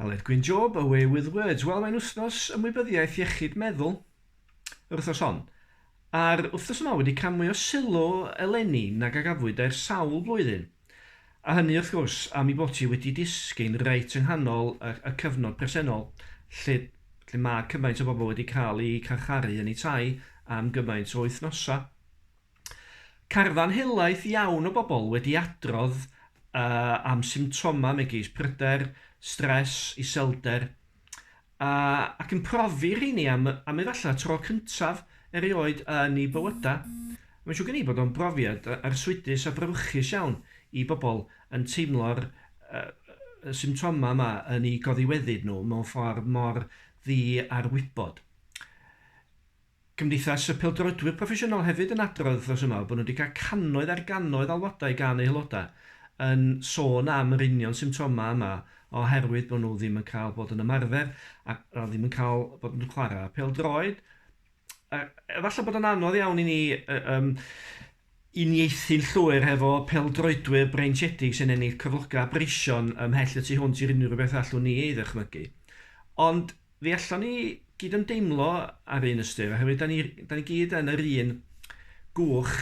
Aled Gwyn Job, away with words. Wel, mae'n wythnos ymwybyddiaeth iechyd meddwl yr wythnos hon. A'r wythnos yma wedi cael mwy o sylw eleni nag a gafwyd er sawl blwyddyn. A hynny, wrth gwrs, am i bod ti wedi disgyn reit yng nghanol y, y cyfnod presennol, lle, lle mae cymaint o bobl wedi cael eu carcharu yn eu tai am gymaint o wythnosau. Carfan helaeth iawn o bobl wedi adrodd am symptomau megis pryder, stres, iselder, ac yn profi rheini am am efallai tro cyntaf erioed yn eu bywydau. Mae'n siŵr gen i bod o'n brofiad arswydus a brawychus iawn i bobl yn teimlo'r symptomau yma yn eu goddiweddyd nhw mewn ffordd mor ddi ar wybod. Cymdeithas y Pêl-droedwyr Proffesiynol hefyd yn adrodd wythnos yma bod nhw wedi cael cannoedd ar gannoedd alwadau gan eu haelodau yn sôn am yr union symptomau yma oherwydd bod nhw ddim yn cael bod yn ymarfer a ddim yn cael bod yn chwarae pêl-droed. Efallai bod o'n anodd iawn i ni yy yym Unieithin llwyr hefo pêl-droedwyr breintiedig sy'n ennill cyflogau breision ymhell y tu hwnt i'r unrhyw beth allwn ni ei ddychmygu. Ond fe allwn ni gyd ymdeimlo ar un ystyr oherwydd 'da ni 'da ni gyd yn yr un gwch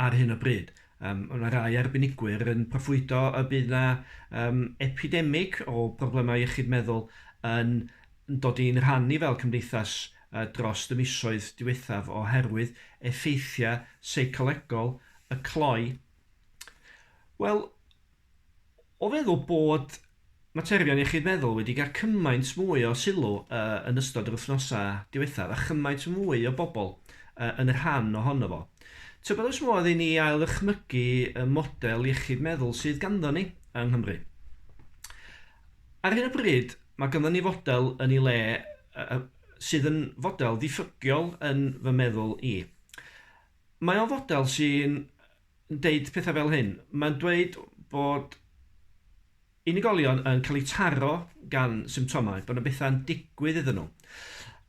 ar hyn o bryd. Yym, mae 'na rai arbenigwyr yn proffwydo y bydd 'na yym epidemig o broblemau iechyd meddwl yn yn dod i'n rhan ni fel cymdeithas dros y misoedd diwethaf oherwydd effeithiau seicolegol y cloi? Wel, o feddwl bod materion iechyd meddwl wedi cael cymaint mwy o sylw yn ystod yr wythnosau diwethaf a chymaint mwy o bobl yn rhan ohono fo, tybed oes modd i ni ail-ddychmygu y model iechyd meddwl sydd ganddon ni yng Nghymru? Ar hyn o bryd, mae ganddo ni fodel yn ei le sydd yn fodel ddiffygiol yn fy meddwl i. Mae o'n fodel sy'n deud pethau fel hyn. Mae'n dweud bod unigolion yn cael eu taro gan symptomau, bod yna bethau'n digwydd iddyn nhw.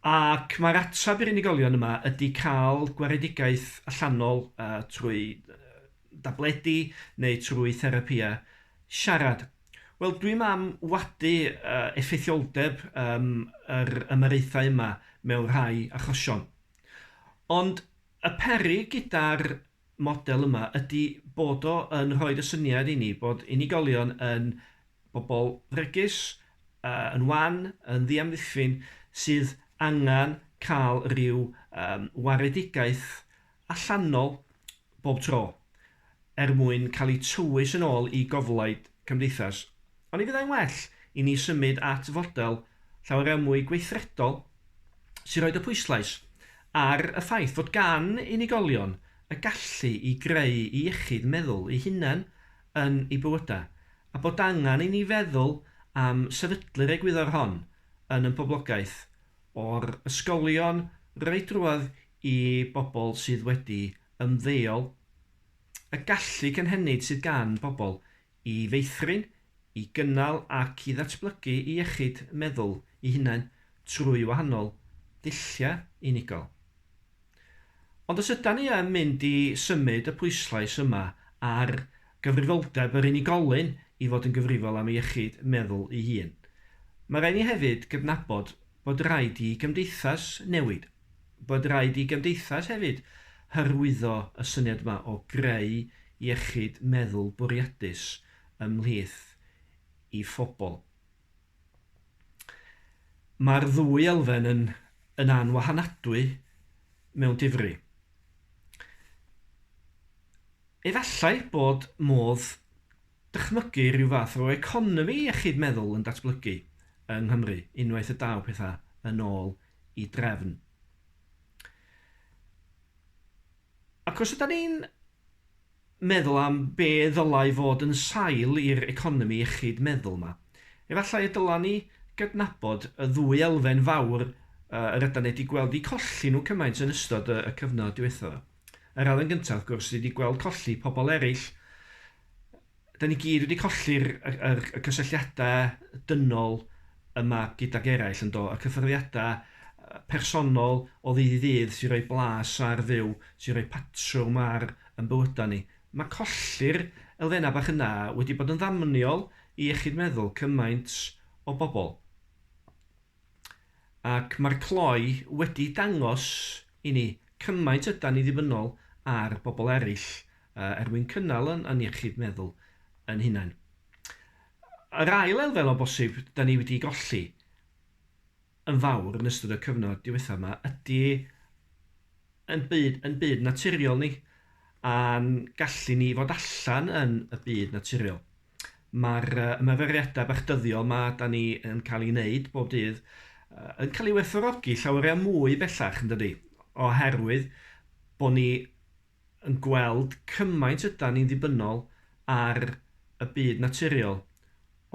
Ac mae'r ateb i'r unigolion yma ydy cael gwaredigaeth allanol uh, trwy dabledi neu trwy therapia siarad. Wel, dwi'm am wadu uh, effeithioldeb um, yr ymyraethau yma mewn rhai achosion. Ond y peri gyda'r model yma ydy bod o yn rhoi y syniad i ni bod unigolion yn bobl fregus, uh, yn wan, yn ddiamddiffyn, sydd angen cael rhyw um, waredigaeth allanol bob tro, er mwyn cael eu tywys yn ôl i goflaid cymdeithas, ond ni fyddai'n well i ni symud at fodel llawer mwy gweithredol sy'n rhoi y pwyslais ar y ffaith fod gan unigolion y gallu i greu eu iechyd meddwl eu hunain yn eu bywydau, a bod angen i ni feddwl am sefydlu'r egwyddor hon yn ein poblogaeth, o'r ysgolion, roi drwodd i bobl sydd wedi ymddeol, y gallu cynhenid sydd gan bobl i feithrin, i gynnal ac i ddatblygu eu iechyd meddwl eu hunain trwy wahanol ddulliau unigol. Ond os ydan ni yn mynd i symud y pwyslais yma ar gyfrifoldeb yr unigolyn i fod yn gyfrifol am ei iechyd meddwl ei hun, mae rhaid ni hefyd gydnabod Bod raid i gymdeithas newid. Bod raid i gymdeithas hefyd hyrwyddo y syniad yma o greu iechyd meddwl bwriadus ymhlith ei phobl. Mae'r ddwy elfen yn yn anwahanadwy mewn difri. Efallai bod modd dychmygu rhyw fath o economi iechyd meddwl yn datblygu yng Nghymru unwaith y daw pethau yn ôl i drefn. Ac os yda ni'n meddwl am be ddylai fod yn sail i'r economi iechyd meddwl yma, efallai y dyla ni gydnabod y ddwy elfen fawr yr yda ni wedi gweld eu colli nhw cymaint yn ystod y cyfnod diwethaf. Yr elfen gyntaf, wrth gwrs, ydy gweld colli pobl eraill 'da ni gyd wedi colli'r y y y cysylltiada dynol yma gydag eraill yndo? Y cyffyrddiada yy personol o ddydd i ddydd sy'n rhoi blas ar fyw, sy'n rhoi patrwm ar yn bywyda ni. Mae colli'r elfenna bach yna wedi bod yn ddamniol i iechyd meddwl cymaint o bobl. Ac mae'r cloi wedi dangos i ni cymaint ydan ni ddibynnol ar bobl eraill er mwyn cynnal yn yn iechyd meddwl yn hunain. Yr ail elfen o bosib da ni wedi golli yn fawr yn ystod y cyfnod diwethaf yma ydy yn byd, yn byd naturiol ni a'n gallu ni fod allan yn y byd naturiol. Mae'r ymarferiadau bach dyddiol yma da ni yn cael ei wneud bob dydd yn cael ei werthorogi llawer iawn mwy bellach yn dydy oherwydd bod ni yn gweld cymaint ydan ni'n ddibynnol ar y byd naturiol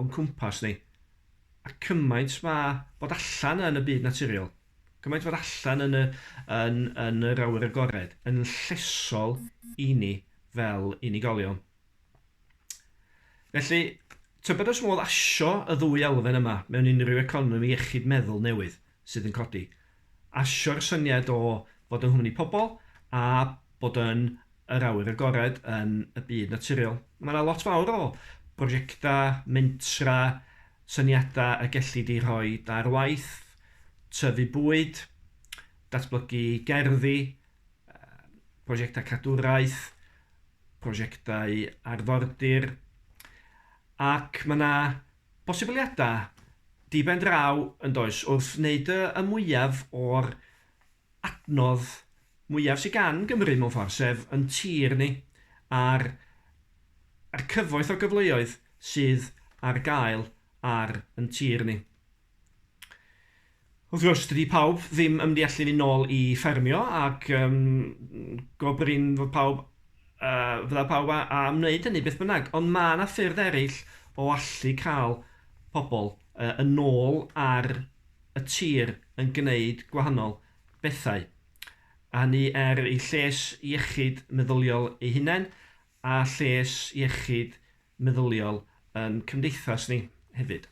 o'n cwmpas ni, a cymaint ma' bod allan yn y byd naturiol, cymaint fod allan yn y, yn, yn yr awyr agored, yn llesol i ni fel unigolion. Felly, tybed os modd asio y ddwy elfen yma mewn unrhyw economi iechyd meddwl newydd sydd yn codi? Asio'r syniad o fod yng nghwmni pobl a bod yn yr awyr agored yn y byd naturiol. Mae yna lot fawr o brosiectau, mentra, syniadau y gellid eu rhoi ar waith, tyfu bwyd, datblygu gerddi, prosiectau cadwraeth, prosiectau arfordir ac mae 'na bosibiliadau diben draw yn does wrth wneud y mwyaf o'r adnodd mwyaf sydd gan Gymru mewn ffordd sef yn tir ni a'r a'r cyfoeth o gyfleoedd sydd ar gael ar yn tir ni. Wrth gwrs, dydy pawb ddim yn mynd i allu mynd nôl i ffermio ac um, gobrin fod pawb, uh, fydda pawb a, a wneud hynny beth bynnag. Ond mae yna ffyrdd eraill o allu cael pobl uh, yn nôl ar y tir yn gwneud gwahanol bethau. A hynny er i lles iechyd meddyliol ei hunain a lles iechyd meddyliol yn cymdeithas ni hefyd.